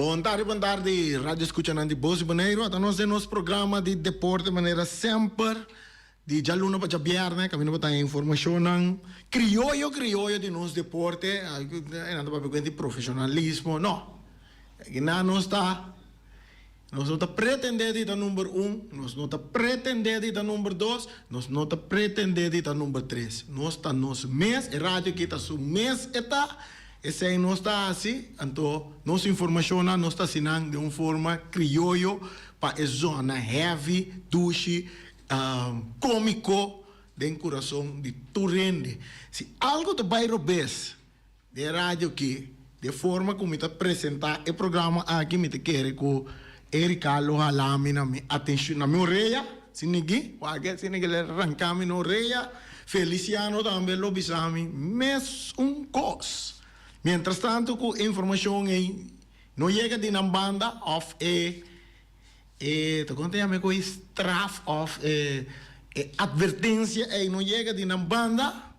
Bon tardi bon tardi radio escuchanan di Boz di Boneiru ata nos den nos programa di deporte manera semper di djaluna pa djabierne caminda pa traha informacionnan crioyo crioyo di nos deporte e nan ta papia cuenta di profesionalismo no esaki nan nos ta Nos no ta pretendé di ta number un, nos no ta pretendé di ta number dos, nos no ta pretendé di ta number tres. Nos ta nos mes, e radio aki ta su mes e ta, esei nos ta hasi, anto nos informashonnan nos ta hasinan den un forma krioyo pa e zona hevi, dushi, komiko den kurason di tur hende. Si algu ta bai robes. Den e radio ki, den forma ku mi ta presentá e programa aki, mi ta kere ku e rikal lo hala mi na mi atenshun, na mi orea, si nigui, kualke si nigui lo ranká mi na orea. Feliciano tambe lo bisa mi mes un kos. Miéntras tantu ku e informashon ei no yega di nan banda òf e, e, ta kon ta yama e kos ei? Straf òf e, e atvertensia ei no yega di nan banda,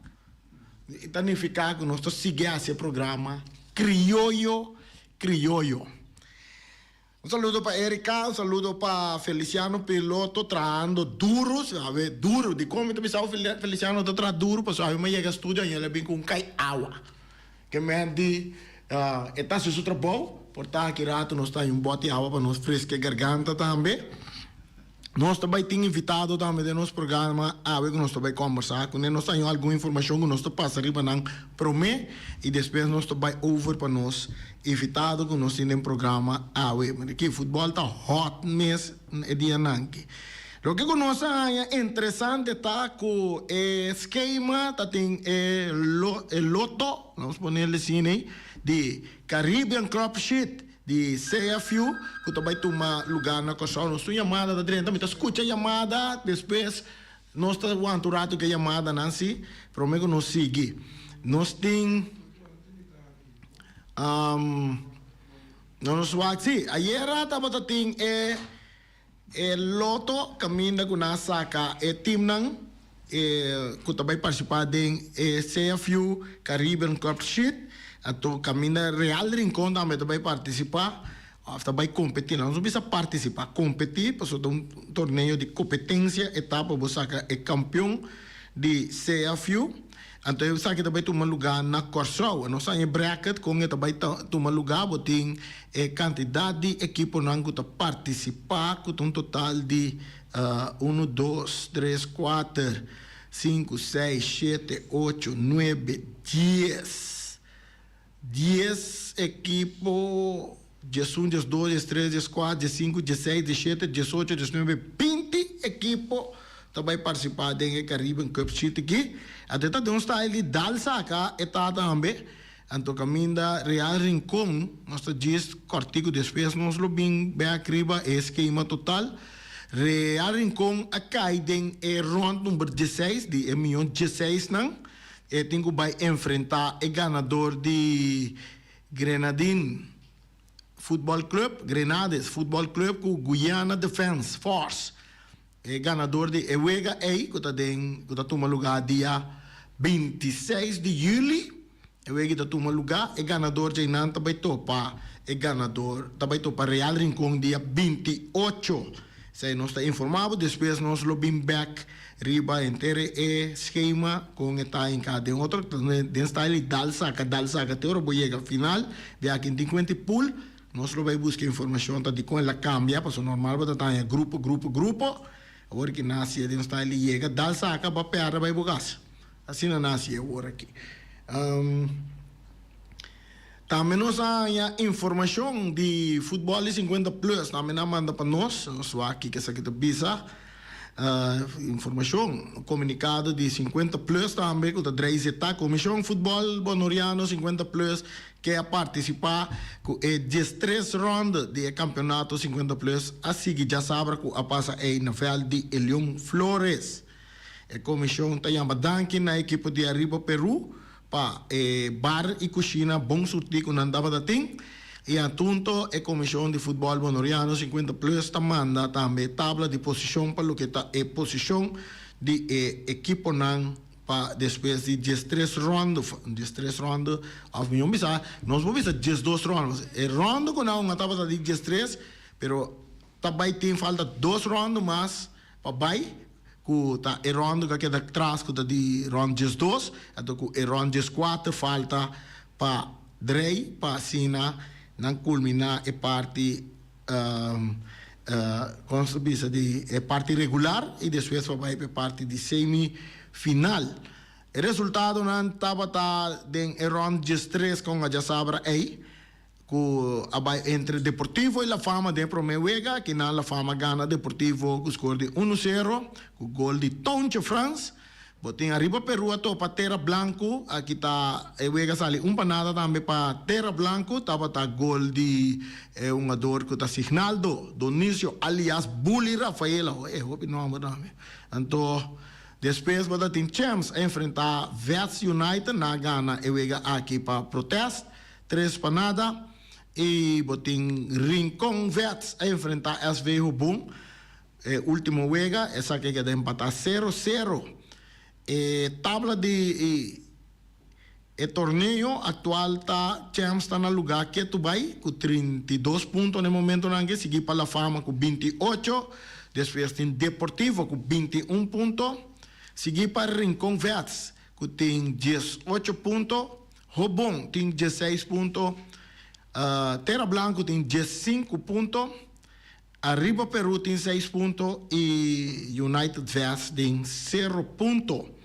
I ta nifiká ku nos ta sigui hasi e programa krioyo krioyo. Un saludo pa Erika, un saludo pa Feliciano Piloto trahando duru, si awe duru. Dikon mi ta bisa awe Feliciano ta traha duru? Pasobra awe mi a yega studio aña el a bin ku un kai awa. Te meh di, E ta haci su trabou, por ta aki rato nos ta haña un boti awa pa nos fresca e garganta tambe. Nos ta bay tin invitado tambe den nos programa awe cu nos ta bay combersa cu nan. Nos ta haña algun informacion cu nos ta pasa riba nan prome y despues nos ta bay over pa nos invitado cu nos tin den programa awe. Mira aki, futbol ta hot mes e dianan aki. Loke ku nos a haña interesante ta ku e skema ta tin e e loto, vamos poner el asina ahí, di Caribbean Club Sheet di CFU ku ta bai tuma lugá na Kòrsou. Nos tin yamada ta drenta, mi ta skucha yamada, despues nos ta wanta un ratu ku e yamadanan si, promé ku nos sigui. Nos tin, nos wak, si, ayera tabata tin e. E loto caminda cu nan a saca e teamnan cu ta bay participa den e CFU Caribbean Cup Sheet. Anto caminda Real Rincon tambe ta bay participa of ta bay competi. Nan no so bisa participa, competi pasobra ta un torneo di competencia etapa bo saca e campeon di CFU. Anto esaki ta bai tuma lugá na Kòrsou. Nos haña e brèkèt kon e ta bai tuma lugá. Bo tin e kantidat di ekiponan ku ta partisipá ku ta un total di unu, dos, tres, kuater, sinku, seis, shete, ocho, nuebe, dies. Dies ekipo, dies un, dies dos, dies tres, dies kuat, dies sinku, dies seis, dies shete, dies ocho, dies nuebe, binti ekipo ta bai partisipa den e Caribbean Cup Street aki. Ate ta den un style di dal saka e tata hambe, anto kaminda Real Rincon, nos ta djis kòrtiku despues nos lo bin bèk riba e skema total. Real Rincon a kai den e rond number dieseis di e miyon dieseisnan. E tin ku bai enfrentá e ganador di Grenadin Futbòl Club, Grenades Futbòl Club, ku Guyana Defense Force. E ganador di e wega ei ku ta den ku ta tuma lugá dia binti seis di yüli, e wega ei ta tuma lugá, e ganador dje einan ta bai topa e ganador ta bai topa Real Rincon dia binti ocho. Esei nos ta informá bo, despues nos lo bin bèk. Riba henter e schema con e ta hinca den otro den style y dal saca dal saca te ora bo yega final de aki tin cuenta y pool nos lo bay busca informacion ta dicon el a cambia pasobra normal bo ta taña grupo grupo grupo awor ki nacia den style y yega dal saca ba perde bay bo gas. Asina nasi e word aki. Tambe nos a haña informacion di futbol di sinkuenta plus. Tambe nan a manda pa nos. Nos wak kiko esaki ta bisa. Informacion, un comunicado di sinkuenta plus tambe cu ta drei zeta. Comision Futbol Bonoriano Sinkuenta Plus ke a participa cu e diestres ronde di e campeonato sinkuenta plus a sigui diasabra cu a pasa ey na veld di Elion Flores. E komishon ta yama danki na e ekipo di Arriba Peru pa e bar i kushina bon surtí ku nan tabata tin i atunto e komishon di futbòl Boneriano Sinkuenta Plus ta manda tambe tabla di posishon pa loke ta e posishon di e ekiponan pa despues di diestres rònde. Diestres rònde òf mi un bisa nos por bisa diesdos rònde pask e rònde ku nan hunga tabata di diestres pero Ta bai tin falta dos rondo mas pa bai ku ta e rondo ku a keda tras ku ta di rond diesdos anto ku e rond dieskuater falta pa drei pa asina nan kulminá e parti kon ta bisa di e parti regular i despues pa bai pa e parti di semi final. E resultadonan tabata den e rond diestres kon a djasabra ei. cu a bay entre Deportivo y La Fama den e prome wega. Akinan La Fama gana Deportivo cu score di uno cero cu gol di Tounche Frans. Botin ariba Peru a topa Tera Blanco. Aki ta e wega sali un pa nada tambe pa Tera Blanco. Tabata gol di e hungador cu ta Signaldo Donicio alias Bully Rafael. Awo e hopi nomber tambe. Anto despues bo ta tin Champs a enfrenta West United. Nan gana e wega aki pa Protest. Tres pa nada y bo tin Rincon Vets a enfrenta SV Hobon e ultimo wega, esaki a keda empata sero sero. E tabla di e torneo actual ta Champs ta na luga ketu bay cu trinta i dos punto na e momentonan aki, sigui pa La Fama cu binti i ocho, despues tin Deportivo cu binti i un punto, sigui pa Rincon Vets cu tin diesocho punto Hoop Bon tin dieseis punto. Tera Blanku tin diessinku punto. Ariba Peru tin seis punto i United West tin sero punto.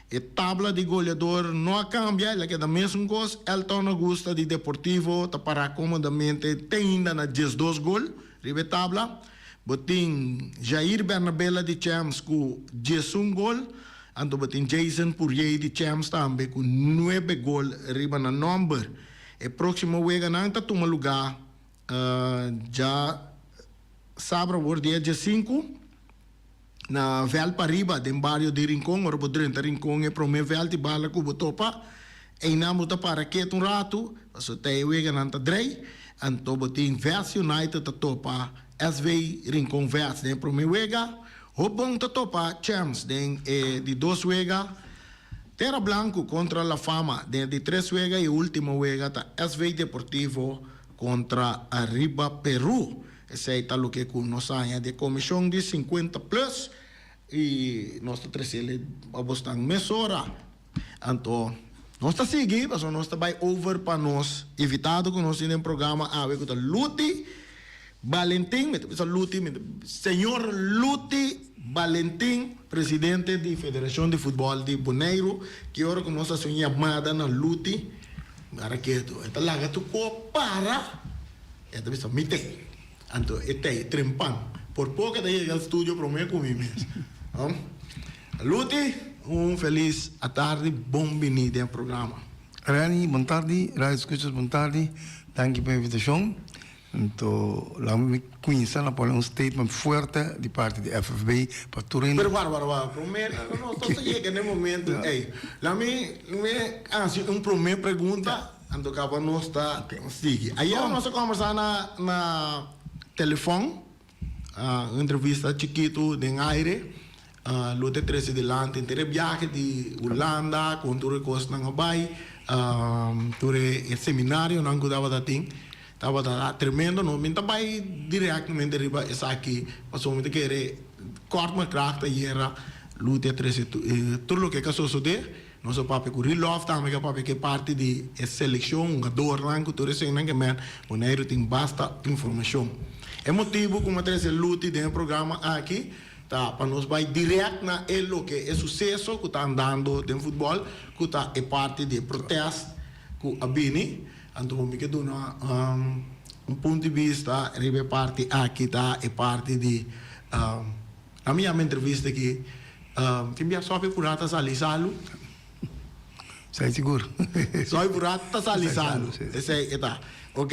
E tabla di goleador no a kambia, el a keda mesun kos. Elton Augusta di Deportivo ta pará komodamente teinda na diesdos gol riba e tabla. Bo tin Jair Bernabela di Champs ku diesun gol, anto bo tin Jason Pourier di Champs tambe ku nuebe gol riba nan nòmber. E próksimo weganan ta tuma lugá dja sabra wòrdu dia diesinku. Na vèlt pa riba den bario di Rincon, ora bo drenta Rincon e promé vèlt di bala ku bo topa, einan bo ta para kiet un ratu, pasobra te e weganan ta drei, anto bo tin West United ta topa SV Rincon West den e promé wega, Hoop Bon ta topa Champs den e di dos wega, Tera Blanku kontra La Fama den e di tres wega i e último wega ta SV Deportivo kontra Arriba Peru. Esei ta loke ku nos ta haña di e komishon di sinkuenta plus i nos ta tresel e pa bosnan mesora. Anto nos ta sigui pasobra nos ta bai over pa nos invitado ku nos tin den programa awe ku ta Luti Balentin. Mi ta bisa Luti, mi ta señor Luti Balentin, presidente di Federashon di Futbòl di Boneiru. Ki ora ku nos hasi un yamada na Luti, mi para ketu. E ta laga tu kop para. E ta bisa, Mi t'ei. Anto e t'ei trempan. Por poco e ta yega al studio prome cu mi mes. Luti. Un felis atardi, bon bini den e programa. Reni, Bon tardi, radio scuchas bon tardi, danki pa e invitacion. Anto laga mi cuinsa, lo pone un statement fuerte di parti di FFB pa tur hende. Pero wara, wara, wara, prome nos ta yega na e momento ei. Laga mi haci un prome pregunta. A toca pa nos ta sigi. Ayer nos a combersa na na telefon, un entrevista chikito den aire, lo ta trece dilanti enter e biahe di Hulanda con tur e cos nan a bay, tur e seminarionan cu tabata tin, tabata tremendo no. Mi ta bay directamente riba esaki pasobra mi ta kere kort na kracht ayer lo dia trece tur loke ke a sosode. Nos a papia ku Rilov tambe ke a papia ke parti di e selekshon hungadornan ku tur eseinan ke men Boneiru tin basta informashon. E motibu ku mi a trese Luti den e programa aki ta pa nos bai dirèk na e loke e suseso ku ta andando den futbòl ku ta e parti di e protèst ku a bini. Anto bo mi ke duna un punto di bista riba e parti aki ta e parti di. A mi yama entrevista aki tin bia sofi pura ta sali salu. Esei sigur. Sofi pura ta sali salu. Esei e ta. Ok.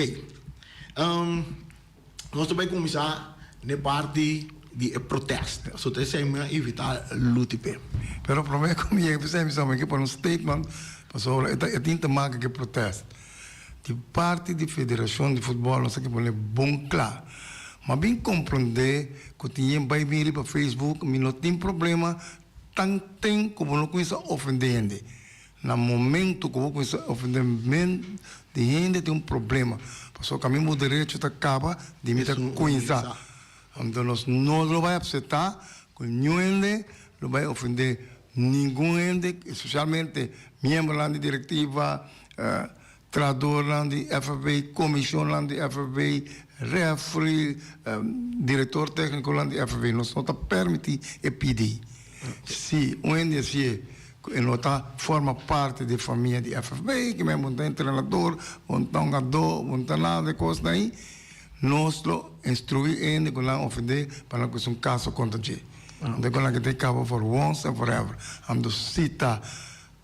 Nos ta bai kuminsá n'e parti di e protest. So ta esei mi a invitá Luti p'e. Pero promé ku mi yega p'esei mi sa, mi ke pone un statement pasobra e tin ta maka ku e protest. Di parti di federashon di futbòl nos a ke pone bon kla. Mi a bin komprondé ku tin yen bai bin riba facebook. Mi no tin problema tan ten ku bo no kuminsá ofendé hende. Na momentu ku bo kuminsá ofendé men di hende tin un problema. Pasobra ku a mi bo derecho ta kaba di mi ta kuminsá. Anto nos no lo bai apseptá ku niun hende lo bai ofendé ningun hende, espesialmente miembronan di direktiva, trahadornan di FFB, komishonnan di FFB, refri, direktor téknikonan di FFB. Nos no ta pèrmití e PD. Si un hende a sié ku e no ta forma parti di e famia di FFB, ki mei bo no ta entrenador, bo no ta un gadó, bo no ta nada di e kosnan ahi, Nos lo instruí e hende ku nan ofendé pa nan kusa un kaso kontra dje. Hende ku nan ke tin kaba for once and forever. A mester sita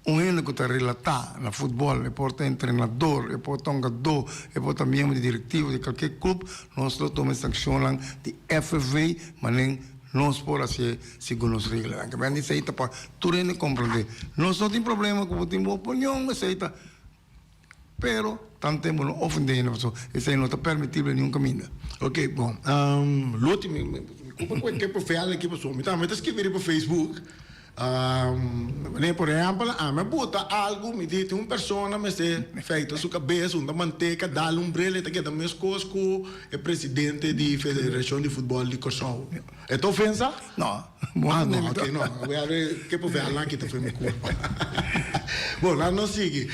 un hende ku ta relatá na futbòl, e por ta entrenador, e por ta un gadó, e por ta miembro di direktivo di kalke klup, nos lo tuma e sankshonnan di FFV manera nos por hasié segun nos reglanan. Kiba nan di esei ta pa tur hende komprondé. Nos no tin problema ku bo tin bo opinion, esei ta. Pero tanto tempo no ofende hende pasobra esei no ta permitible niun kaminda. Ok, bon. Loti, mi kupa ku e tempo feal aki pasobra mi tambe ta skirbi riba facebook. Por ehèmpel, ami a bota algu, mi di tin un persona mester feita su kabes, hunta manteka, dal un brele, e ta keda meskos ku e presidente di Federashon di Futbòl di Kòrsou. E ta ofensa? No. Moa no ok no we a re ke por fe alan kita fue mi culpa bo la nos sigui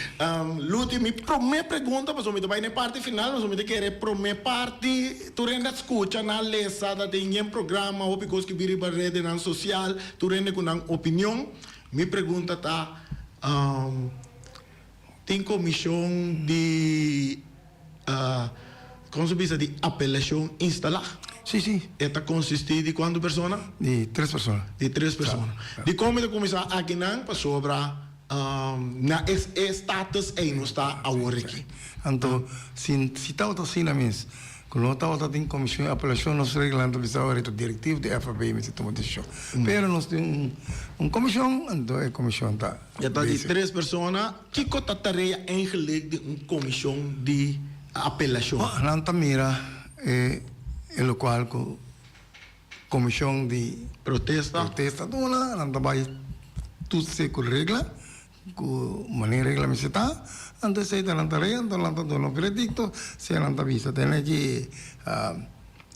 Luti mi prome pregunta paso mi ta bay na e parti final paso mi ta kere e prome parti tur hende a scucha na lesa ta tin yen programa hopi cos ki bira riba redenan social tur hende cu nan opinion mi pregunta ta. Tin Comishon di Como se bisa? Di Apelacion instalá. Sí, sí. E ta consistí di cuantu persona? Di tres persona. Di tres persona. Di con mi ta cuminsá aki nan pasobra na e status ei nos ta awor aki. Anto, si si tabata asina mes, cu no tabata tin Comishon di Apelacion, nos reglanan ta bisa awor ei ta directivo di FAB mes ei tuma decision. Pero nos tin un comishon, anto e comishon ta. E ta di tres persona. Kiko ta tarea eigenlijk di un komishon di apelashon? Nan ta mira e lokual ku komishon di protesta ta duna. Nan ta bai tutse ku regla, ku manera e regla mester ta. Anto esei ta nan tarea, anto nan ta duna un veredikto. Esei nan ta bisa. Tene ki.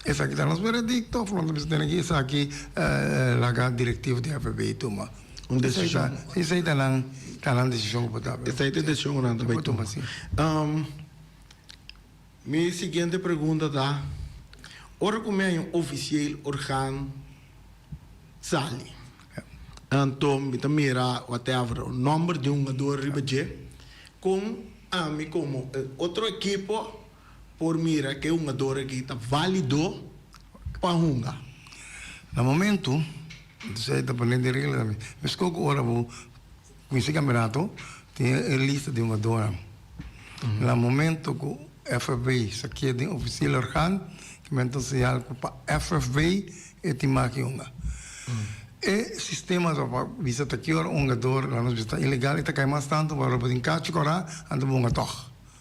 Esaki ta nos veredicto of lo nos bisa tene esaki laga directivo di HPB tuma un decision? Esey ta nan ta nan decision ku por ta awe. Esey ta e decision ku nan ta bay tuma si. Mi siguiente pregunta ta ora ku mi aña oficial organ sali anto mi ta mira whatever un nomber di un jugador riba dje kon ami komo otro ekipo por mira e hungador aki ta válido pa hunga. Na momentu, entonces ey ta pone den regla tambe, mescó cu ora bo cuinci campeonato, tin e lista di hungadornan. Na momento cu FFB sa kier den oficial orgaan, kimen ta un señal cu pa FFB e tin maki hunga. E sistema ta pa bisa ta ki ora un hungador la nos bisa ta ilegal, e ta cay mas tanto, pasobra bo tin cachi corá, anto bo hunga tog.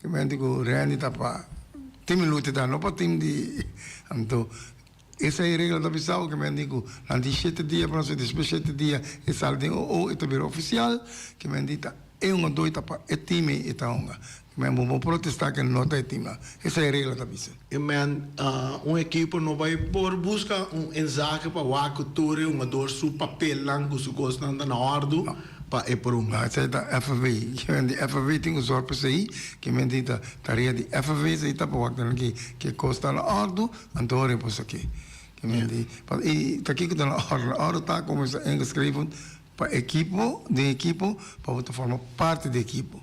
Tin mente ku rendi ta pa tin minut ta no pa tin di anto esei regla ta bisao ke mente ku nan tin shete dia por hasi despues shete dia e sali den o o e ta bira ofisial ke mente ta e un odo e ta pa e tin me e ta hunga men bo bo protesta ke no ta e tin esei regla ta bisa. E men un ekipo no bai por buska un ensake pa wak ku tur e hungador su papelnan ku su kosnan ta na ordu pa e prun. Esei ta FV. Ke men di FV tin un sòrt p'esei, ke men tin ta tarea di FV esei ta pa wak ta na ke ke kos ta na ordu, anto ora e por sa ke. Ke men di pa i ta kiko ta na ordu? Na ordu ta ku men sta ingeschreven pa ekipo den ekipo pa bo ta forma parti di ekipo.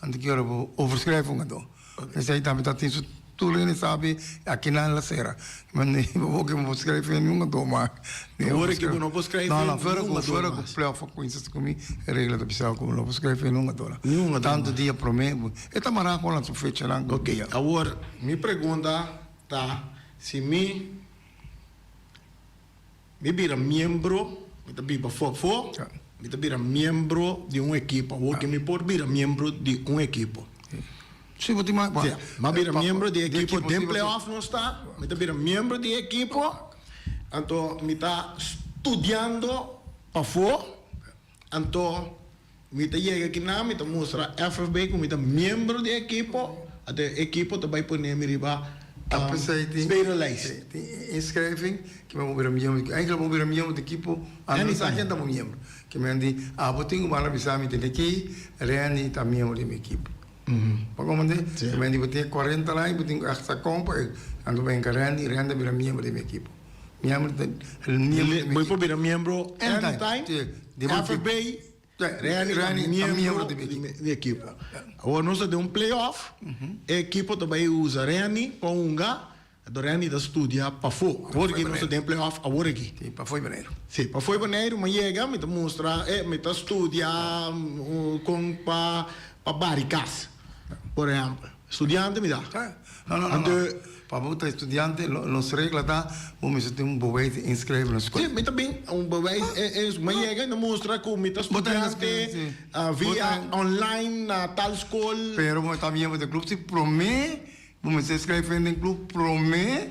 Anto ki ora bo overschrijf un kantó, esei tambe ta tin su tur lei ne sabi a kinan la sera. Bo no bo ke bo por schrijf nen niun kantó mas. Bo hoor ke bo no por schrijf nen niun kantó mas. Fuera ku Playoff a kuminsa esaki mi e regla ta bisaba ku bo no por schrijf nen niun kantó la. Niun kantó mas. Tantu dia promé e ta mará kon nan su fechanan. Ok, awor mi pregunta ta si mi Mi bira miembro, mi ta biba fofo, mi ta bira miembro di un ekipo. Awor ke mi por bira miembro di un ekipo. Si bo tin mai bo. Mi bira miembro di ekipo den playoff nos ta, mi ta bira miembro di ekipo, anto mi ta studiando pafo. Anto, mi ta yega kina, mi ta mustra FFB ku mi ta miembro di e ekipo, anto e ekipo ta bai pone mi riba tweede lijst. Tin inschrijving ku mi a bira miembro, ku enkele bo a bira miembro di ekipo, anda a sa ken ta bo miembro. Ke men a di, Abo tin kubanan a bisa mi te ke kei, Renny ta miembro di mi ekipo. Bo kòm unda? Ke men a di, Bo tin e kuarenta aña, bo tin ku èk sa kòmpa, anto bo henga Renny, Renny ta bira miembro di mi ekipo. Miembro ta miembro. Bo por bira miembro anytime. FFB Reni ta miembro di ekipo. Awor nos ta den un playoff, e ekipo ta bai usa Reni pa hunga, enton Reni ta studia pafo. Awor aki nos ta den playoff awor aki. Si, pafo di Boneiru. Si, pafo di Boneiru mi a yega, mi ta mustra, e mi ta studia kon pa bari kas, por ehempel. Studiante mi ta. He? No, no, no, no. Pa bo ta e studiante, lo, nos regla ta, bo mester tin un bewijs di inskreve na skol. Si, mi ta bin un bewijs e, e, mi yega i mi mustra ku mi ta Bo ta inskreve, si. studiante Bo via ta. online na tal skol. Pero bo ta bini, bo ta e klub, si promé bo mester inskreve den klub, promé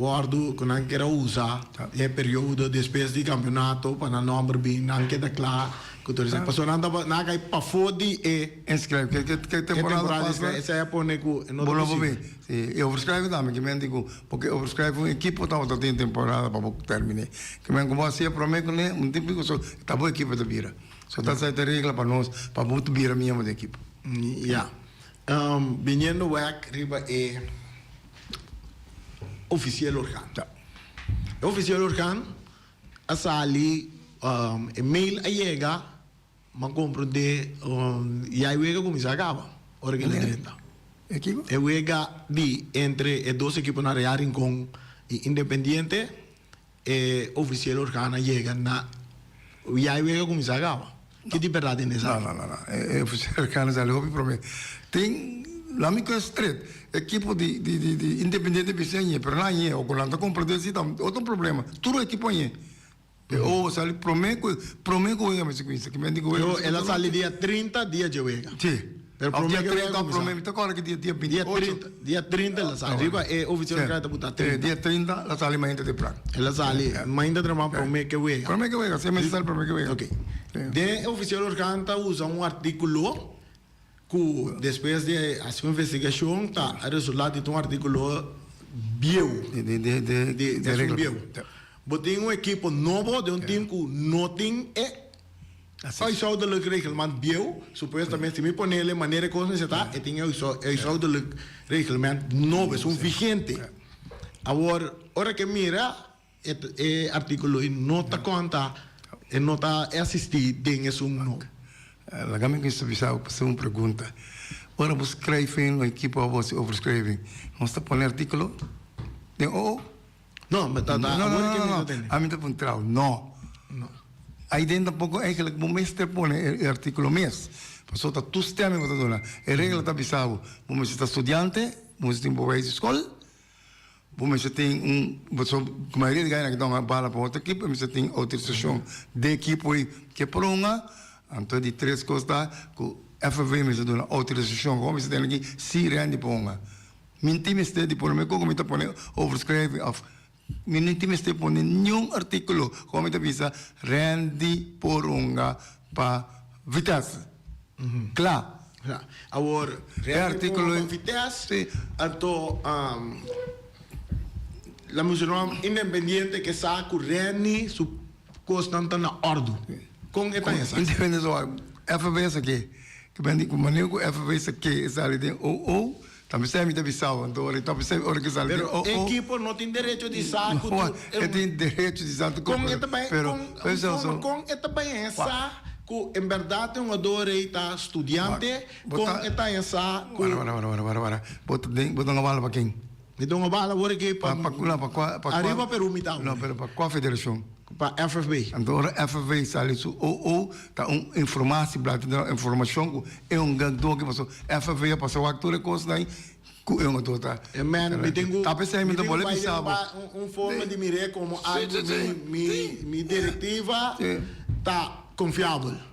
Wordu ku nan keda a usa ta e periodo despues di kampionato pa nan nòmber bin nan keda kla ku tur esei pasobra nan tabata nan a kai pafó di e Inskrèvi ke ke temporada pas la esei a pone ku e no ta posibel. Si e overskrèvi tambe ki men di ku bo ke overskrèvi un ekipo tabata tin temporada pa bo terminé ki men ku bo a hasié promé kuné un tiempo so ta bo ekipo ta bira so ta esei ta e regla pa nos pa bo ta bira miembro di ekipo. Ya biniendo wèk riba e. ofisiel organ. E ofisiel organ a sali e mail a yega ma compro de ya e wega cuminsa a caba ora ki nan drenta. E wega di entre e dos ekiponan Real Rincon y Independiente. E ofisiel organonan yega na wiai wega a kuminsá gaba? Ki di bèrdat den esaki? No, no, no, e ofisiel organonan sali hopi promé. Tin, nan mi kue stret, e ekipo di di Independiente bis'é ñe, pero nan ñe, o ku nan ta kompra den si ta otro problema. Tur ekipo ñe. P'e owo sali promé ku promé ku wega mester kuminsá. Ki mente ku wega mester kuminsá. Pero el a sali dia trinta, dia dje wega. Si. Pero prome ke lo a kuminsá. Dia trinta el a sali. Riba e oficial di krai ta buta trinta. Dia trinta el a sali mainta di pran. El a sali mainta trabá prome ke wega. Prome ke wega, seis mes antes prome ke wega. Ok. Den e oficial organ ta usa un artíkulo ku despues di hasi un investigashon ta resultá di ta un artíkulo bieu. Bo tin un ekipo nobo den un tim ku no tin e Huishoudelijk reglement bieu, supuestamente si mi ponele manera e cosnan esatá e tin e huishoudelijk reglement nobo, esun vigente. Awor ora ke mira e artíkulo ei no ta konta, e no ta e asistí den esun no. Laga mi mester bisa bo haci un pregunta. Ora bo skrijf in un ekipo abo haci overschrijving, nos ta pone artíkulo den OO? No, me ta da awor ke mi ta tende. Ami ta puntrao, no. Ai den tampoco eigenlijk bo mester pone e articulo mes, paso ta toestemming bo ta duna. E regla ta bisa bo, bo mester ta studiante, bo mester tin beweis di school, bo mester tin un, paso mayoria di guy nan a bala pa otro ekipo e mester tin autorisacion den ekipo ei ke pronga. Anto di tres cos ta ku FNV mester duna autorisacion ku bo mester tene aki si rendi ponga. Mi tin mester di pone, mi ko'ko mi ta pone overschrijving of mi no tin mester pone niun artíkulo kua mi ta bisa Randy Poronga pa Vitesse. Kla. Kla. Awor E artíkulo e. Vitesse, anto la Muserom Independiente ke sa ku Randy su kosnan ta na òrdu. Kon e ta esaki? Kon Independiente su òrdu? FVS ke, ku manera ku FVS ke e sali den OO, Ta p'esei mi ta bisao, anto ora e ta p'esei ora ke sali di o-o. Pero e ekipo no tin derecho di sa ku tu e. E tin derecho di sa tu ku kon e ta bai pero un forma kon e ta bai e sa ku en berdad e hungador ei ta studiante kon e ta e sa ku. Wara wara wara wara wara bo ta den bo ta duna bala pa ken? Mi duna bala ora ke pa. Pa pa kula pa kua pa kua. Ariba Peru mi dau. No pero pa kua federashon? pa FFB. Anto ora FFB sali su OO ta un informasi blad tende nan informashon ku e un gak doki paso FFB a pasa wak tur e kosnan ei ku e un ato ta rèkta. Ta p'esei mi ta bole bisa bo. Un forma di mir'é komo algu mi direktiva ta konfiabel.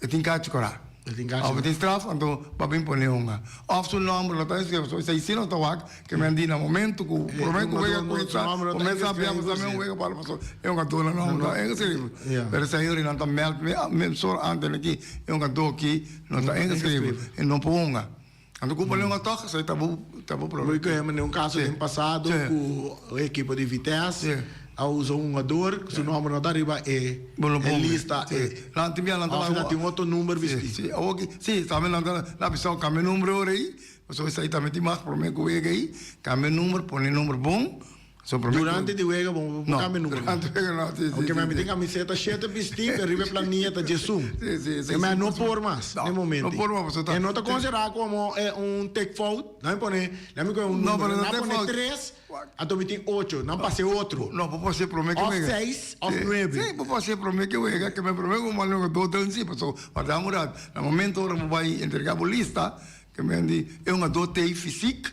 E tin cachi cora. E tin cachi. Of e tin straf, anto papia impone un. Of su nomber lo ta escrito, so esei si lo ta wak, ke men a di na momento ku prome ku wega ku intra, ku men sa bia basa men un wega bal paso e un a duna nomber ta ingeschrive. Pero esei yori nan ta meld mi, mi sor ante na ki e un a do ki no ta ingeschrive, e no por hunga. Anto ku bo leu atok esei ta bo ta bo problema. Bo a kohe mane un kaso den pasado ku un ekipo di Vites a usa un hugador ku su nòmber no ta riba e e lista e of nan tin otro number bisti. Si awor ki si tambe nan ta na bisao kambia number ora ei pasobra esei tambe tin mas problema ku wega ei kambia number pone number bon. Durante di wega bo no cambia numero no. Ok mi tin camiseta shete bisti pe riba e planilla ta Jesun e mi no por mas den momento e no ta considera como e un tikfout nan mi pone nan mi coge un numero nan pone tres anto mi tin ocho nan pasa e otro of seis of nuebe si bo por haci prome ki wega ke mi prome ku mandi wega do danzi paso wardá murat na momento ora bo bai entrega bo lista ke mi mandi e un ado tei fisik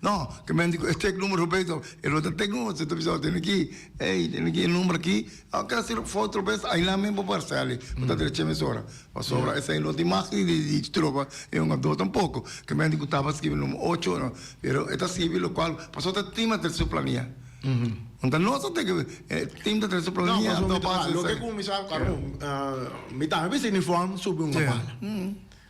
No, ke men di ku e tek number for bes tok, e lo ta tek number so ta bisa, tene ki, ey, tene ki e number aki, a keda si for otro bes aynan men bo por sali, bo ta dreche mes ora, pasobra esei no ta imagen di di tropa, e un ador tampoko, ke men di ku tabata skibi number ocho, no, pero e ta skibi lo kual, paso ta tim a trese su plania, no ta nos ta teke, e tim ta trese su plania, no, paso esei, ya. mi tambe bisa uniform subi un apala.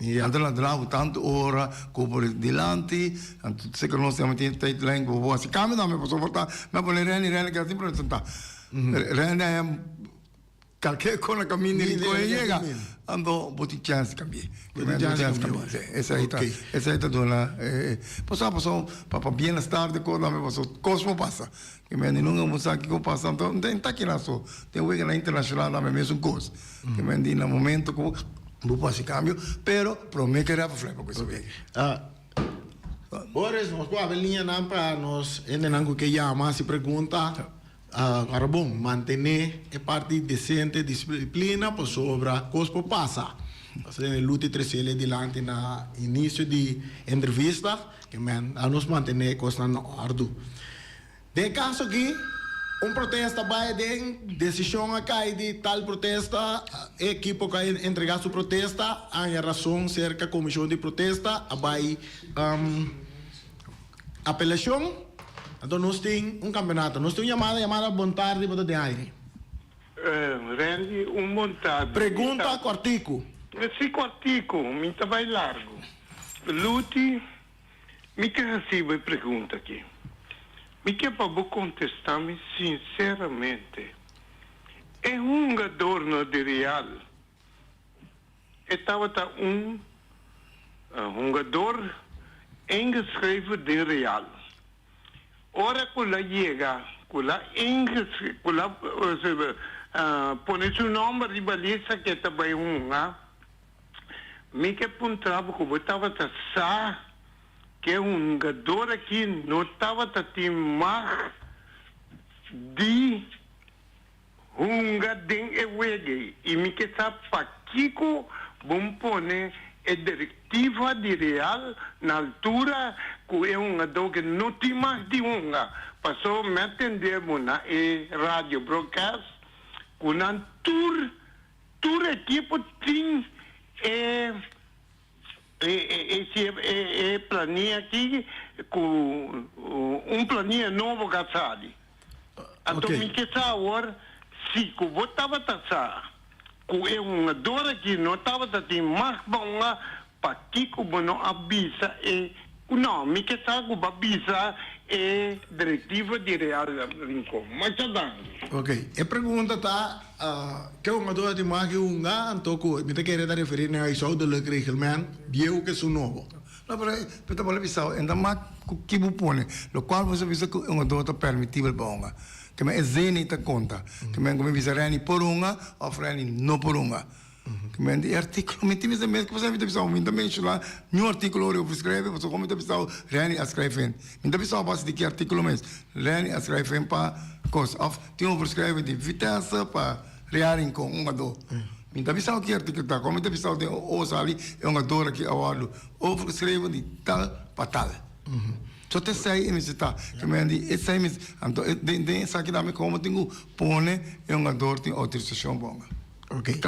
E alter la dra bo tantu ora ku por dilanti, anto seken nos tambe tin tate lijn ku bo por hasi kambio tambe, pasobra por ta nan pone Renny, Renny keda tin presenta, Renny a hem kalke kon a kaminda e rincon e yega, anto bo tin chèns di kambi'é, bo tin chèns di kambi'é, si, esei ta, esei ta duna e, paso a paso, pa pa bienestar di kos tambe, paso kos por pasa. Ke men di nunka bo sa kiko pasa anto no ta en taki nan so den wegnan internashonal tambe mesun kos ke men di na momento ku bo por hasi kambio pero prome ke rèp flepo ku esei wega. Boris nos por habri liñanan pa nos hendenan ku ke yama hasi pregunta ora bon mantené e parti desente disiplina pasobra kos por pasa pasobra den e luti tresele dilanti na inisio di entrevista Amen. A nos mantené e kosnan na òrdu. Den e kaso akí, un protesta bai den, desishon a kai di tal protesta, e ekipo ku a entregá su protesta a haña rason serka komishon di protesta, a bai apelashon. Anto nos tin un kampeonato. Nos tin un yamada, yamada bontardi riba ta den aire. Randy, un bontardi. Pregunta kòrtiku. Si kòrtiku, mi ta bai largu. Luti, Mi ta hasiba e pregunta aki. Mi ke pa bo kontestá mi sinseramente. E hungadornan di Real, e tabata un hungador ingeschreven den Real. Ora ku el a yega, ku el a ingeschreven, ku el a pone su nòmber riba lista ke ta bai hunga. Mi ke puntra bo ku bo tabata sa ku e hungador aki no tabata tin mag di hunga den e wega ei. I mi ke sa pakiko bo pone e direktiva di Real na altura ku e hungador ke no tin mag di hunga. Paso mi a tende bo na e radio broadcast ku nan tur Tur ekipo tin e e plania aki ku un plania nobo ka sali. Anto mi ke sa awor si ku bo tabata sa ku e hungador aki no tabata tin mashba un Pakico bo no a bisa e cu no? Mi ke sa cu b'a bisa e directiva di Real Rincon. Masha danki. Ok, e pregunta ta, ke un ato a tin maki hunga anto cu mi ta kere ta referi na e zuidelijk reglement bieu ke su nobo? No, pero mi ta bole bisao en ta mak cu ki bo pone lo cual bo sa bisa cu un ato ta permitibel pa hunga. Kimen e Zeni ta conta, kimen cu mi bisa Renny por hunga of Renny no por hunga. Mente e artíkulo mi tin bisa mes ku pasá mi ta bisa mi ta menshoná niun artíkulo riba bo skrèb'e pasobra kon mi ta bisa Reini a skrèb'e mi ta bisa base di ki artíkulo mes Reini a skrèb'e pa kos òf tin un por skrèb'e di Vitesse pa Reini Rincon un a dó mi ta bisa ki artíkulo ta kon mi ta bisa den o a sali e un a dó aki a wòrdu o por skrèb'e di tal pa tal so ta esei mi si ta ke mente esei mes anto den den esaki ta mi komo tin ku pone e un a dó tin outorisashon. Oke,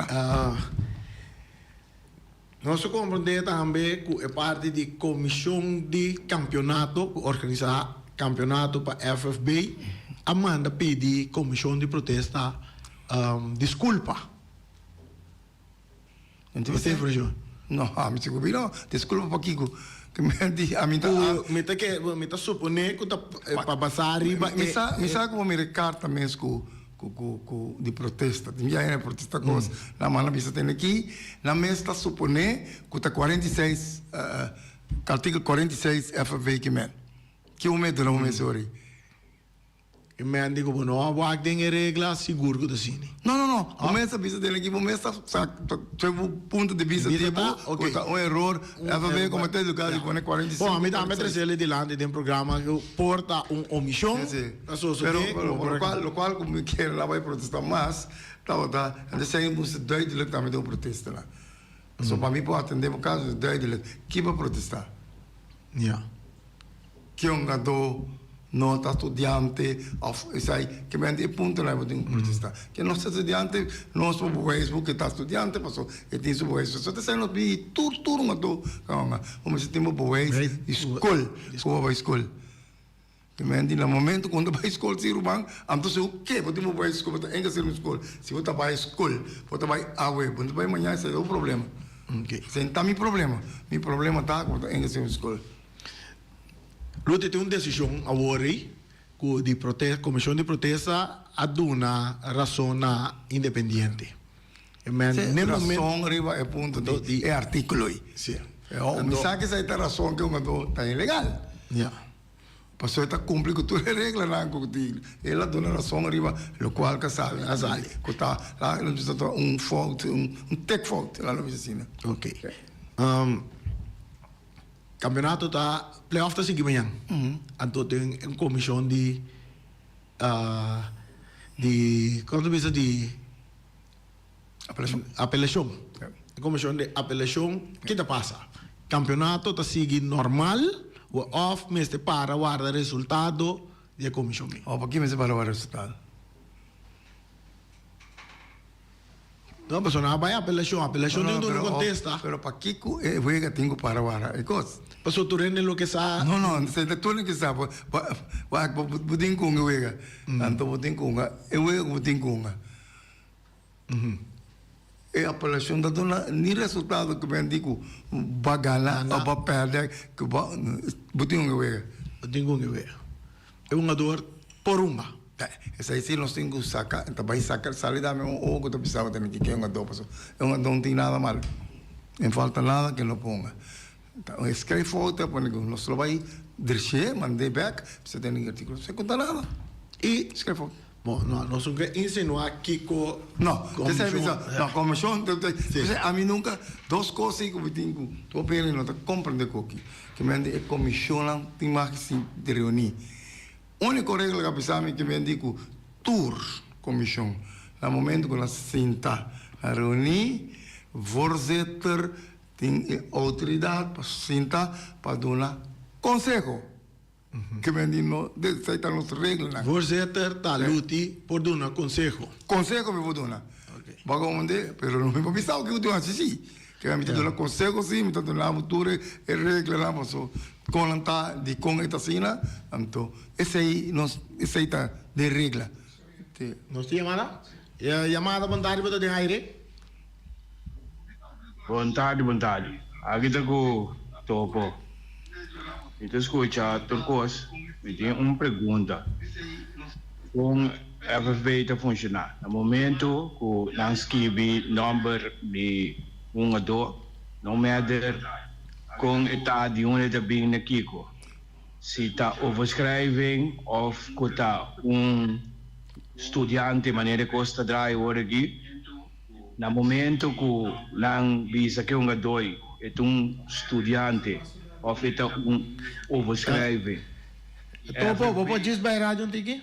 nos a komprendé tambe ku e parti di komishon di kampionato ku organisá kampionato pa FFB a manda pidi komishon di protesta diskulpa. Bo ta hepri asina? No, ami si ku mi no. Diskulpa pa kiko? Mi ta suponé ku ta basá riba e. Mi sa ku bo mira e karta mes ku. cu di protesta tin biahe na protesta cos nan mas nan bisa tene aki nan mes ta supone cu ta cuarenta y seis artikel cuarenta y seis FFV ki men ki bo mete nan bo mes ori e men di cu bo no a wak den e regla sigur cu ta asini no no no bo mes ta bisa tene aki bo mes ta seg bo punto di bisa di bo cu ta un eror FFV comete educado di pone cuarenta y seis bo ami tambe a trece le dilanti den programa cu por ta un omision. Lo cual cu mi quiere la bay protesta mas tabata entonces ahí moest duidelijk tambe den un protesta nan. Pasobra pa mi por atende bo caso es duidelijk kin pa protesta. Kiongadó, no ta studiante of esai kibende e punto nan e bo tin cu protesta. Ke no ta studiante no es pa bo wijs bo ke ta studiante pasobra e tin su bewijs so esai nos bini hei tur tur un ato kawanga bo mester tin bo bewijs di school cu bo a bay school. Timenti na momento ku bo ta bai skol si ruman a bo ta sigu ke bo tin bo bai skol bo ta enka ser un skol si bo ta bai skol bo ta bai awe bo no ta bai maña esei ta bo problema esei no ta mi problema mi problema ta ku bo ta enka ser un skol. Lo tin un desishon awor ei ku di protesta komishon di protesta a duna rason na Independiente Te rason riba e punto di e articulo ei. Awo mi sa kisa ei ta rason cu un oto ta ilegal. Pasobra e ta cumpli cu tur e reglanan cu tin. El a duna rason riba locual casabi na sali cu ta la lo bisti ta un fout, un tec fout la lo bisti asina. Ok. Campeonato ta, playoff ta sigui mañan. Anto tin un comision di Ta di punto di bista di apelacion di comision di apelacion ki ta pasa? Campeonato ta sigui normal of mester para warda resultado di e comision? Paki mester para warda resultado? No, pasobra nan a bai apelashon. Apelashon tin tur lo kontesta. Pero pakico e wega tin cu para wara e cos? Pasobra tur hende loke sa. No, no, sende tur loke sa. Wak bo, bo tin cunga e wega. Anto bo tin cunga e wega cu bo tin cunga. E apelashon ta duna ni resultado cu bendí cu bo a gana o bo a perde. Bo tin cunga e wega. Bo tin cunga e wega. E un ador por rumba. Esei si nos tin cu saca, ta bay saca el sali dame un oho cu ta pisaba ta miti cu e un ador paso e un ador no tin nada mal. No falta nada cu e no ponga. Ta un escrey foto ta pone cu nos lo bay dreshe, mande bek, bisa tene un articulo. Bisa cu ta nada. Y screy foto. Bo no nos un ke insinuá kiko komishon. No, komishon a mi nunka dos kos ei ku mi tin ku hopi hende no ta komprendé ku oki kimente e komishonnan tin mas ke si di reuní. Úniko regla ku a bisa mi kimente i ku tur komishon na momento ku nan sinta na reuní vorzitter tin e outoridat pa sinta pa duna konseho. Kemedi no desei ta nos regelnan? Voorzitter, ta Luti por duna konseho. Konseho mi por duna? Bago unde? Pero no mi por bisa oki ku tin hasi si. Kera mi ta duna konseho si, mi ta duna bo tur e reglanan paso kon nan ta, dikon e ta asina. Anto esei nos, esei ta den regla. Nos tin yamada. E yamada bon tardi bo ta den aire. Bon tardi bon tardi aki ta cu Toco mi ta scucha tur cos mi tin un pregunta con FFB ta funciona na momento cu nan skibi number di un a do no matter con e ta di un e ta bin na kico. Si ta overschrijving of cu ta un studiante manera cos ta draai ora aki, na momento cu nan bisa ke un gadoy e ta un studiante of e ta un overschrijving. Topo, bo por djis bai radio un tiki?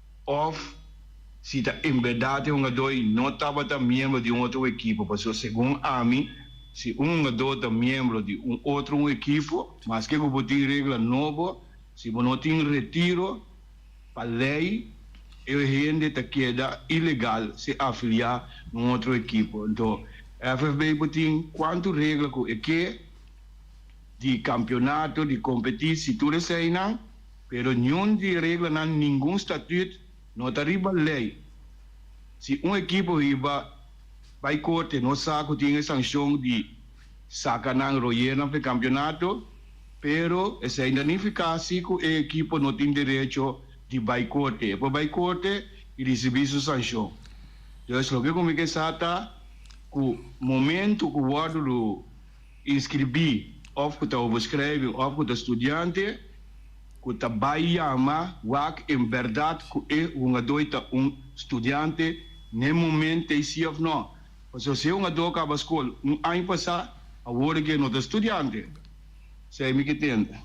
òf si ta en bèrdat e hungadó i no tabata miembro di un otro ekipo. Pasobra segun ami, si un hungadó ta miembro di un otro un ekipo, maske ku bo tin regla nobo, si bo no tin retiro, pa lei e hende ta keda ilegal si afiliá na un otro ekipo. Anto, FFB bo tin kuantu regla ku e ke di kampionato, di kompetí, si tur eseinan. Pero niun di e reglanan ningun statüt no ta riba lei. Si un ekipo riba bai korte no sa ku tin e sankshon di saka nan royer nan for e kampionato, pero esei ta nifiká si ku e ekipo no tin derecho di bai korte. E por bai korte i risibí su sankshon. Dus loke ku mi ke sa ta ku momentu ku wòrdu Inskribí òf ku ta obo skrèvi òf ku ta studiante ku ta bai yama wak en bèrdat ku e hungadó i ta un studiante n'e moment ei si òf nò. Pasobra si e hungadó kaba skol un aña pasá, awor e ke no ta studiante. Esei mi ke tende.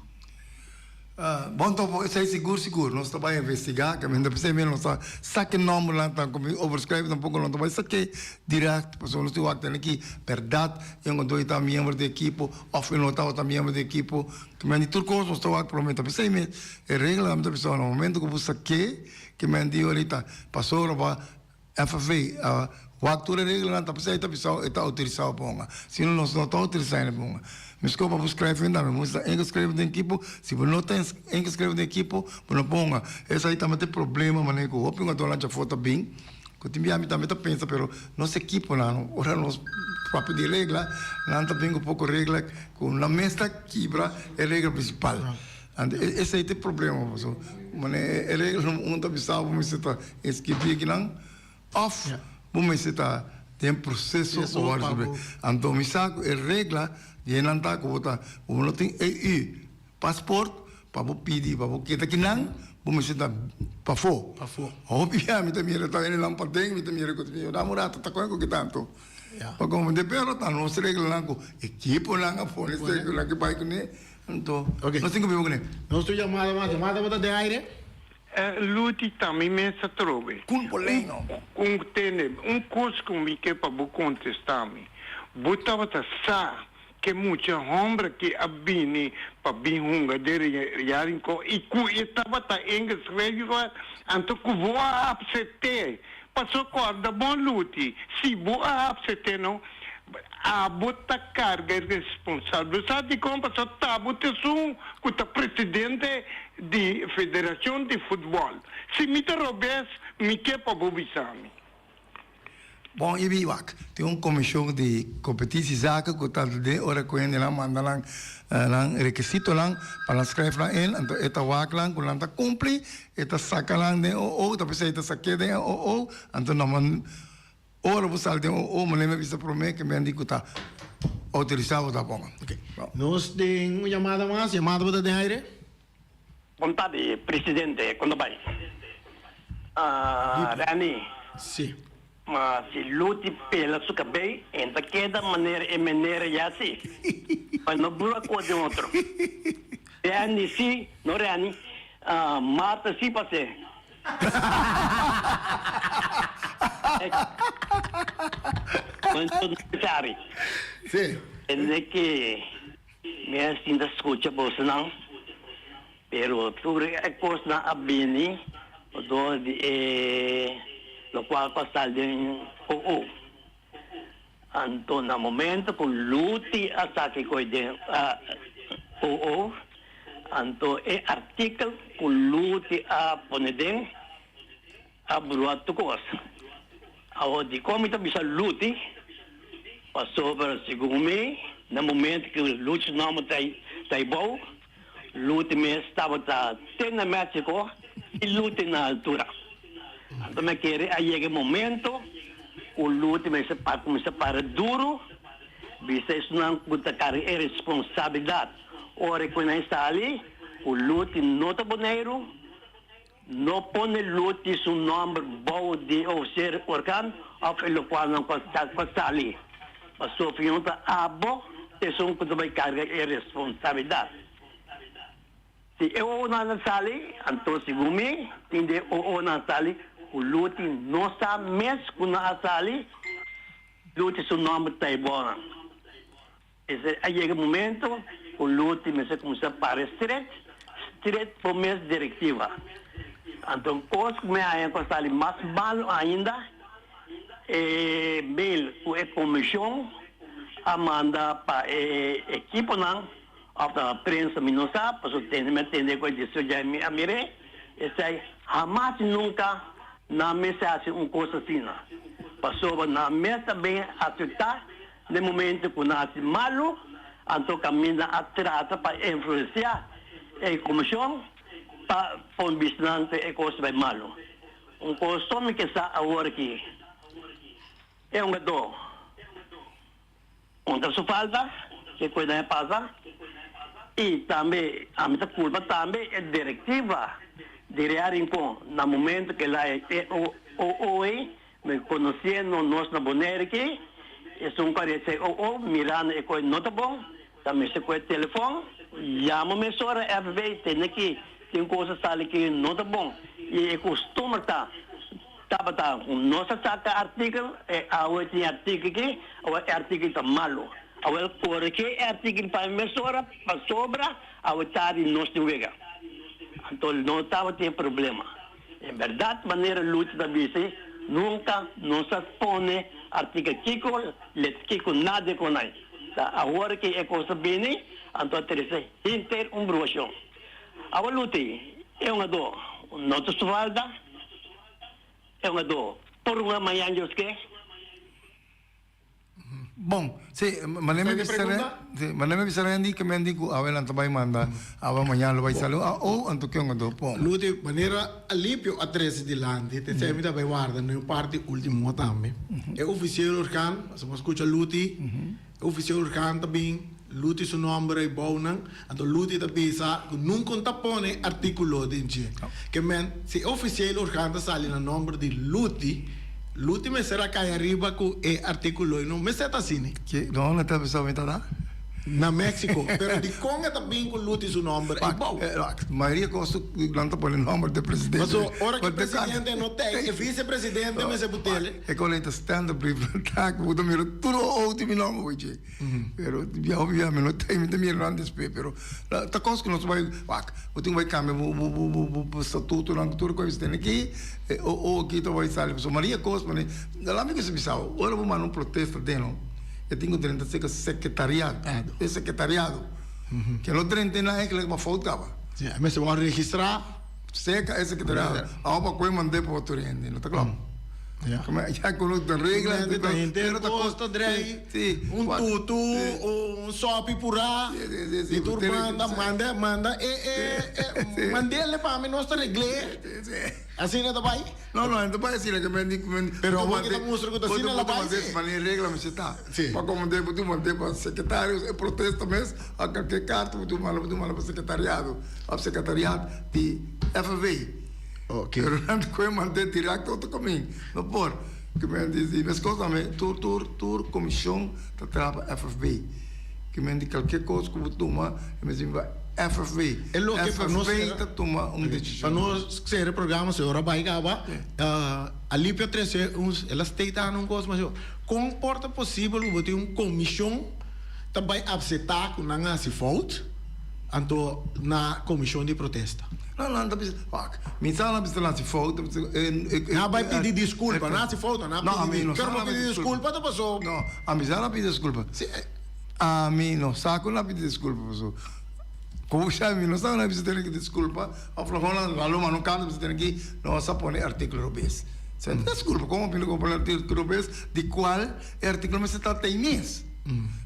Bon tobo esei sigur sigur. Nos ta bai investigá caminda p'esei mira nos ta sa ki nombernan ta kominsa overschrijven tampoco lo ta bai sa ke direct pasobra nos tin wak tene aki berdad y ango dor e ta miembro di e ekipo of e no tabata miembro di e ekipo ke men di tur cos nos ta wak por lo menos ta p'esei mes e reglanan ta bisao na momento ku bo sa ke ke men di ora i ta pasobra bo a FV, Wak tur e reglanan ta pasá e ta bisao e ta outorisao pa hunga. Si no nos no ta outorisá hende pa hunga. Meskor pa bo skrèf hendá mi moest a ingeskreve den ekipo, si bo no ta ingeskreve den ekipo bo no por hunga. Esei ta mete problema manera ku hopi hungadónan dja for ta bin ku tin bia mi tambe ta pensa pero nos ekiponan ora nos papia di regla nan ta bin ku poko regla ku nan mes ta kibra e regla prinsipal. Anto esei ta e problema paso mane e regelnan un ta bisa bo mester ta inscribí akinan òf bo mester ta den proseso pa wòrdu inscribí. Anto mi sa ku e regla di e nan ta ku bo ta ku bo no tin EU pasport pa bo pidi pa bo keda ki nan bo mester ta pafó. Hopi ya mi ta mira ta e nan paden mi ta mira ku ta bin yo dam un rato ta kon ku kita anto pa konfunde pero ta nos reglanan ku ekiponan a pone ki bai kuné. Anto, nos tin cumpli bo cuné. Nos tur yama ta mata. Mata bo ta den aire. E luti ta mi mes ta trobe. Cun bo leño. Cun tene. Un cos cu mi ke pa bo contesta mi. Bo tabata sa ke mucha homber aki a bini pa bin hunga den ya rincon y cu e tabata en Israel, anto cu bo a apsete Paso corda bon luti, si bo a hapse te no, abo ta carga e responsable. Bo sa dicon paso tabo te esun cu ta presidente di federacion di football. Si mi ta robes, mi ke pa bo bisami. Bon y biwak, tin un comision di competici zaken cu ta den ora cu hende nan manda nan requisitonan pa nan scref nan in, anto e ta wak nan cu nan ta cumpli E ta saca nan den o o, ta bisa e ta sa ke den e o o, anto no man ora bo sal den o o, manera mi bisa prome ke men di ku ta autorisa bo ta bon. Ok, nos den un yamada mas, yamada bo ta den aire. Bontad di presidente, con ta bay? Rani. Si. Ma si Luti pela su cabei en ta keda manera e menera ya si. Pa no bura cu den otro. Danny si, no Rani, Marta si pa se. Bueno no necesari. Si. Kende ki mi a sinta scucha bosonan. Pero tur e kosnan a bini dor di e lokual pa sali den OO. Anto na momento ku Luti a saki koi den OO, anto e artikel ku Luti a pone den a brua tur kos. Awor dikon mi ta bisa Luti? Pasobra segun mi na momento ku Luti su nomber ta i bou. Lute mi tabata te na Mexico y lute na altura. Anto mi a kere a yega e momento cu lute mester pa cuminsa para duro bista esunnan cu ta carga e responsabilidad. Ora cu nan sali cu lute no ta Boneiru. No pone luti su nomber bou di o ser orkan of e lukual nan ku a sali, pasobra yon ta abo esun ku ta bai karga e responsabilidat. Si e owonan a sali, anto segun mi, tin den e owonan a sali ku luti no sa mes ku nan a sali, luti su nomber ta e bounan. P'esei a yega momento ku Luti mester kuminsá pare stret, stret bo mes direktiva. Anto kos ku mi haña ku a sali mas malu ainda, e mail ku e komishon a manda pa e ekiponan òf ta na prensa mi no sa, pasobra tende mi a tende ku e distrik djai mi a mir'é. Esei hamas i nunka nan mester hasi un kos asina, pasobra nan mes ta bin afektá. Den momento cu nan haci malu, anto caminda a trata pa influencia e comision pa pon bistinan cu e cos bay malu. Un coston mi ke sa awor aki, e hongado contra su falta, ke cos nan a pasa, y tambe ami ta culpa tambe e directiva di Rea Rincon na momento cu elai e OOE. Mi conociendo nos na Bonaire aki, esun parece o o mirando e coe no ta bon, ta mester coe telefon, llama mesora FB, tende aki tin cosa sali cu no ta bon. Y e costumber ta, tabata nos a saca artikel, e awe tin artikel aki, awe e artikel ta malo, awe el corege e artikel pa mi mesora, pasobra awe tardi nos tin wega. Anto no tabatin e problema. E berdad manera Lutz ta bisti, nunca nos a pone artikel kico let kico nadie conai. Ta awor ki e cos ta bini, anto a trece hinter un bruacion. Awa Luti e un ado no ta su falta, e un ado por un a mañan yo ske. Bon, sí, manera mi bisa ren, sí, manera mi bisa ren di que men di cu awe nan ta bai manda, awe mañana lo bai salu, a o anto kion anto, pon. Luti, manera Alipio a trece dilanti, tensei mi ta bai warda no e parti ultimo hoor tambe. E oficier organ, asa bo a scucha Luti, e oficier organ ta bin. Luti su nòmber ei bounan, anto Luti ta bisa ku nun kon ta pone artíkulo den dje. Kemen, si e ofisiel orgán ta sali na nòmber di Luti, Luti mester a kaya riba ku e artíkulo ei. No mester ta asini. Ke nòmber mi ta bisa mi ta da? Na Méksiko. Pero dikon e ta bin ku Luti su nòmber ei bou? Wak, mayoria kos nan ta pone nòmber di presidente. Paso, ora ku e presidente no ta ei, e visepresidente mester putel. E kon ei ta standaard brief. Nan ta ku bo ta mira tur oou tin mi nòmber bo dje. Pero bia obvio ami no ta mi ta mira nan despe pero ta cos cu nos bai wak bo tin cu bai cambia bo bo bo bo statutonan cu tur cos tene aki o o aki ta bai sali pasobra maria cos pone ta lami cusa bisao ora bo manda un protesta den no e tin cu drenta seca secretariado e secretariado ke no drenta e na e ke leke bo a fout caba. Mester bo a registra. Seca ese que ta dando agua pa coe mandé pa otor hende, no ta clop? Como ya hay cono ta regla, Hende ta hende no ta costa drei, un tutu o un sopi pura di tur banda manda manda e e e mandel ne pa mi nos ta regl'e, asina ta bay. No, no, ento pa e sila ke men di, men di. Pero awor ke ta mustra ku ta asina la bai si. Mane e regla mesha ta. Si. Pa komandé bo duma dé pa sekretarios e protesta mes, a kalke karta bo duma la bo duma la pa sekretariado of sekretariat di FNV. Oke. Pero nan ta kohe mande direkt otro kamin. No por. Ke men di, di mes kos nan men tur tur tur komishon ta traha pa FNV. Ki men di kalke kos ku bo tuma e mes bin ba FFV. E loke pa no sera. FFV ta tuma un desishon. Pa no sera e programa so e ora bai kaba. Alipia trese e la state ana un kos masho. Kon por ta posibel ku bo tin un komishon ta bai apseta ku nan a hasi fout? Anto na komishon di protesta. No nan ta bisa fuck mi sa nan bisa nasi fout nan bai pidi diskulpa nasi fout nan a pidi diskulpa pero pa pidi diskulpa ta paso no ami sa nan pidi diskulpa si ami no sa ku nan pidi diskulpa paso kousa mi no sa nan bisa tene ki diskulpa of lo konan a lo mano kanta bisa tene ki no sa pone artiklo robes sa ta diskulpa kon a pone kon artiklo robes di kual e artiklo mester ta ta ai mes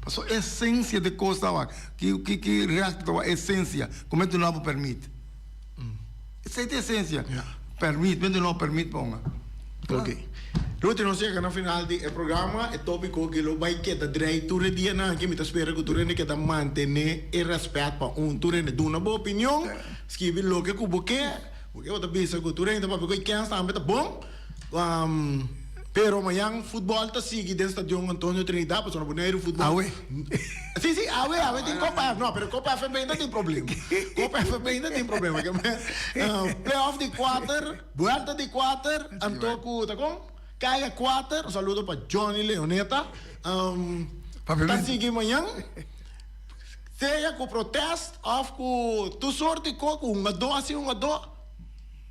paso esensia di kos ta wak. Ki ki recht lo a esencia cu mente no a bo permit? Esey ta esencia permit, mente no a permit pa unga. Ok. Rudy, nos yega na final di e programa. E topico aki lo bay keda dray tur e dianan aki. Mi ta spera cu tur hende keda mantene e respet pa un tur hende. Duna bo opinion, skibi loke cu bo ke. Bo ke bo ta bisa cu tur hende ta papia cu e kens tambe ta bon. Pero mañan futbol ta sigui den stadion Antonio Trinidad pasobra bo no heri futbol. Awe. Si, si, awe, awe tin Copa FB. No, pero Copa FB no tin problema. Copa FB no tin problema. Ke men, playoff di kuater, buelta di kuater, anto ku, ta kon? Kaya kuater. Un saludo pa Johnny Leoneta. Papi Menti. Ta sigui mañan. Sea ku protest of ku tur sort di ko, ku un a do, así un a do.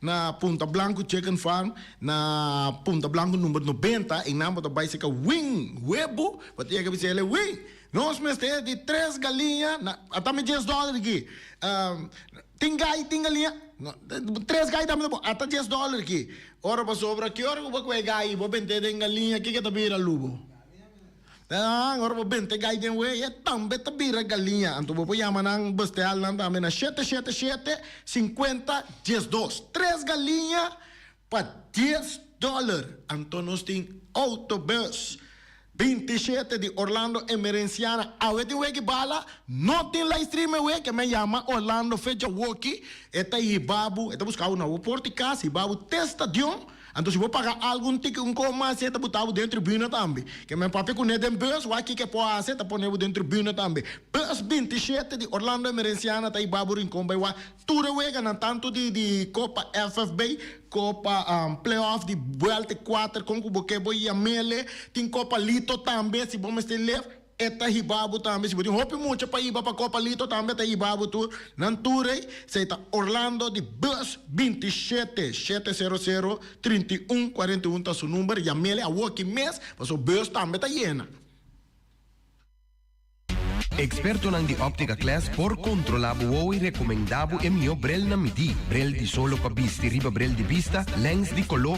Na Punta Blanku Chicken Farm, na Punta Blanku number nobenta, e nan bo ta bai seka wing, webo, bo ta yega bisa el'e wing, nos mester e di tres galiña, na, a ta mi djes dòler aki, tin gai, tin galiña, na, tres gai tambe ta bon, a ta djes dòler aki, ora pasobra, ki ora ku bo kue gai, bo bent'e den galiña, kiko e ta bira lubo? Nan, ora bo bente gai den wei, e tambe ta bira galiña. Anto bo por yama nan, besteal nan tambe na shete, shete, shete, sinkuenta, dies dos. Tres galiña pa dies dòler. Anto nos tin outobus bintishete di Orlando Emerenciana. Awe tin weki bala, no tin livestream e weki. Mi a yama Orlando fecha woki, e ta hiba bo, e ta buska bo na bo por di kas, hiba bo te stadion. Anto si bo paga algu un tiki un koho mas si e ta butabo den tribuna tambe. Ke men papia ku ne den bus wak kiko e por hasi e ta ponebo den tribuna tambe. Bus binti shete di Orlando Emerenciana ta iba bo rincon bai wak tur e weganan tanto di di copa FFB copa playoff di buelta e kuater kon ku bo ke bo iya mele tin copa lito tambe si bo mester lef E ta hibabu tambe. Si bo tin hopi mucha pa hiba pa Copalito tambe e ta hibabu tur. Nan tur ei. Esei ta Orlando di bus binti shete, shete sero sero, trinta i un, kuarenta i un ta su number. Yamele awoki mes paso bus tambe ta yena. Ekspertonan di Optica Class por kontrolá bo wou i rekomendá bo e mihó brel na midí, brel di solo pa bisti riba brel di bista, lèns di koló,